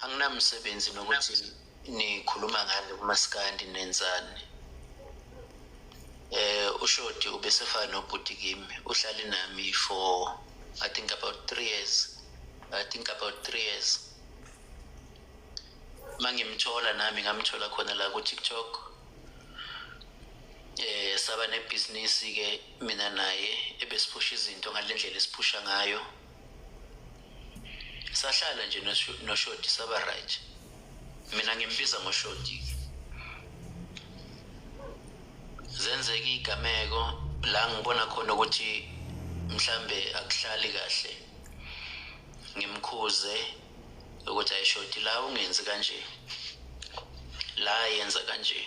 anginamsebenzi nokuthi nikhuluma ngani kumaskandi nenzani eh ushodi ubesefana nobhuti kimi uhlale nami for i think about 3 years i think about 3 years mangimthola nami ngamthola khona la ku TikTok eh saba nebhizinisi ke mina naye ebesiphusha izinto ngalendlela esiphusha ngayo sahlala nje noshodi saba right mina ngimbiza ngoshodi zenzeka igameko la ngibona khona ukuthi mhlambe akuhlali kahle ngimkhuze ukuthi ayishodi la ungenzi kanje la yenza kanje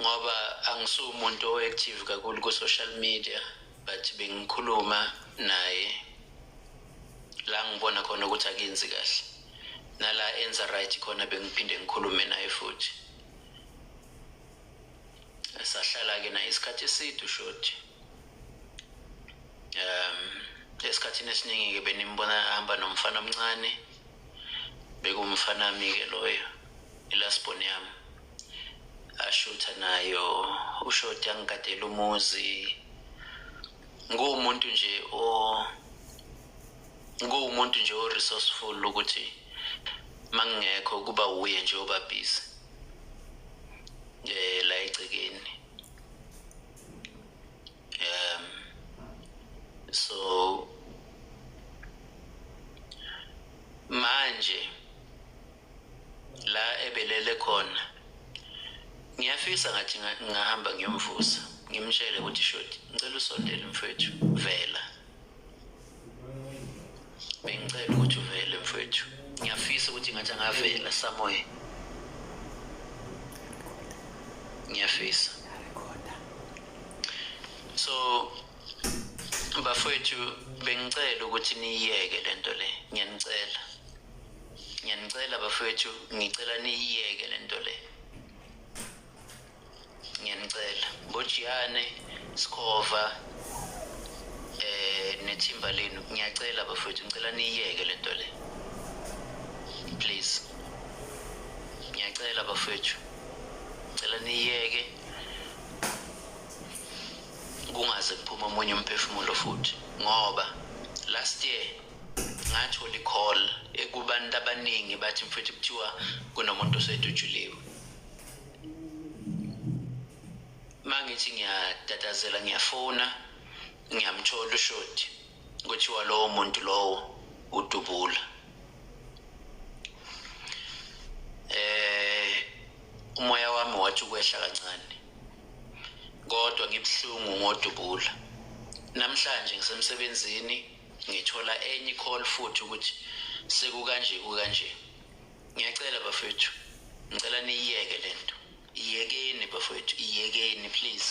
ngoba angisumuntu o-active kakhulu ku-social media but bengikhuluma naye la ngibona khona ukuthi akenzi kahle nala enza right khona bengiphinde ngikhulume naye futhi sahlala-ke naye isikhathi eside ushoti um esikhathini esiningi-ke benimbona ahamba nomfana omncane bekuwumfanami-ke loyo ilasbon yami ashutha nayo ushoti angigadela umuzi nguwumuntu nje o nguwumuntu nje o resourceful ukuthi mangingekho kuba wuye nje obabhizi eh la egcekeni um so manje la ebelele khona ngiyafisa ngathi ngahamba ngiyomvusa ngimtshele ukuthi shoti ngicela usondele mfethu vela bengicela ukuthi uvele mfethu ngiyafisa ukuthi ngathi angavela samoya ngiyafisa so bafowethu bengicela ukuthi niyiyeke lento le ngiyanicela ngiyanicela bafethu ngicela niyiyeke le nto le ngiyanicela bojiyane sikhova eh nethimba lenu ngiyacela bafethu ngicela niyiyeke le nto le please ngiyacela bafethu ngicela niyiyeke kungaze kuphume omunye umphefumulo futhi ngoba last year ngathola i-call ekubantu abaningi bathi mfethu kuthiwa kunomuntu osedutshuliwe uma ngithi ngiyatatazela ngiyafona ngiyamthola ushodi kuthiwa lowo muntu lowo udubula eh umoya wami wathi ukwehla kancane kodwa ngibuhlungu ngodubula namhlanje ngisemsebenzini ngithola enye icall futhi ukuthi sekukanje kukanje ngiyacela bafethu ngicela niyiyeke le nto iyekeni bafethu iyekeni please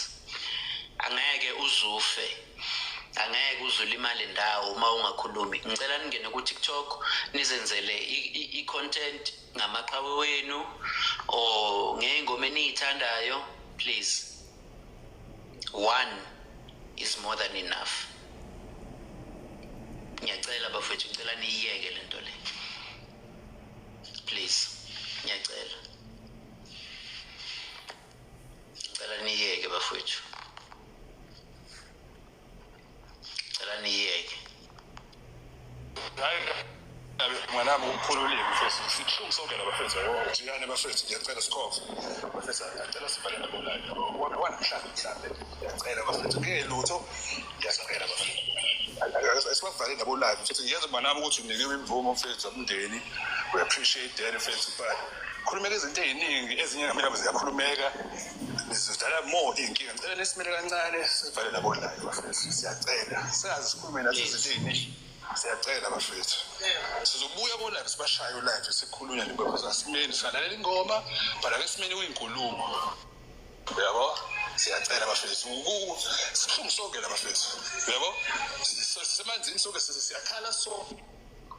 angeke uzufe angeke uzulimale ndawo uma ungakhulumi ngicela ningene ku-tiktok nizenzele i-content ngamaqhawe wenu or ngey'ngoma eniyithandayo please one is more than enough ngiyacela bafethu ngicela niyiyeke le nto le please ngiyacela ngicela niyeke bafethu cela niyeke mwanami ukukhulu ulimi mfethu sibuhlungu sonke labafethu jiyane bafethu ngiyacela sikhove bafethu ngiyacela sivale nabonani wanamhlanje mhlawumbe ngiyacela bafethu kungelutho ngiyacela bafethu esibavale nabo live mfethu ngiyenza mwanami ukuthi unikiwe imvumo mfethu umndeni we appreciate that mfethu but khulumela izinto eziningi ezinye ngamela ziyakhulumeka sizodala more iy'nkinga ngicela nesimele kancane sivale labo live bafethu siyacela singazi sikhulume nathi zilini siyacela bafethu sizobuya kolive sibashaye ulive sikhulunya nibekwazasimeni singalalela ingoma but ake simeni kuyinkulumo uyabo siyacela bafethu sihlungu sonke la bafethu uyabo sisemanzini sonke siyakhala sonke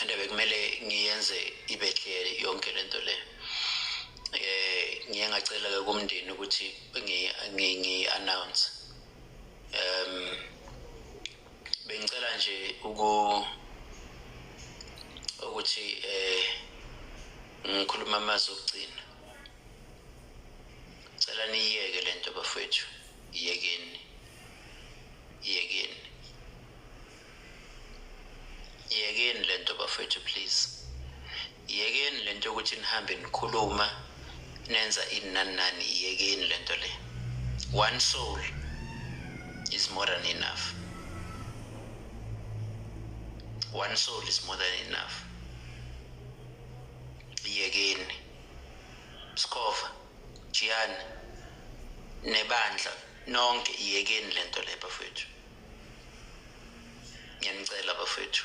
and bekumele ngiyenze ibe clear yonke lento le eh ngiye ngacela ke kumndeni ukuthi ngi ngi announce um bengicela nje uku ukuthi eh ngikhuluma amazwi okugcina cela niyeke lento bafethu iyekeni iyekeni yekeni le nto bafethu please yekeni le nto yokuthi nihambe nikhuluma nenza inani nani yekeni le nto le one soul is more than enough one soul is more than enough yekeni sikhova jiyani nebandla nonke iyekeni le nto le bafethu ngiyanicela bafethu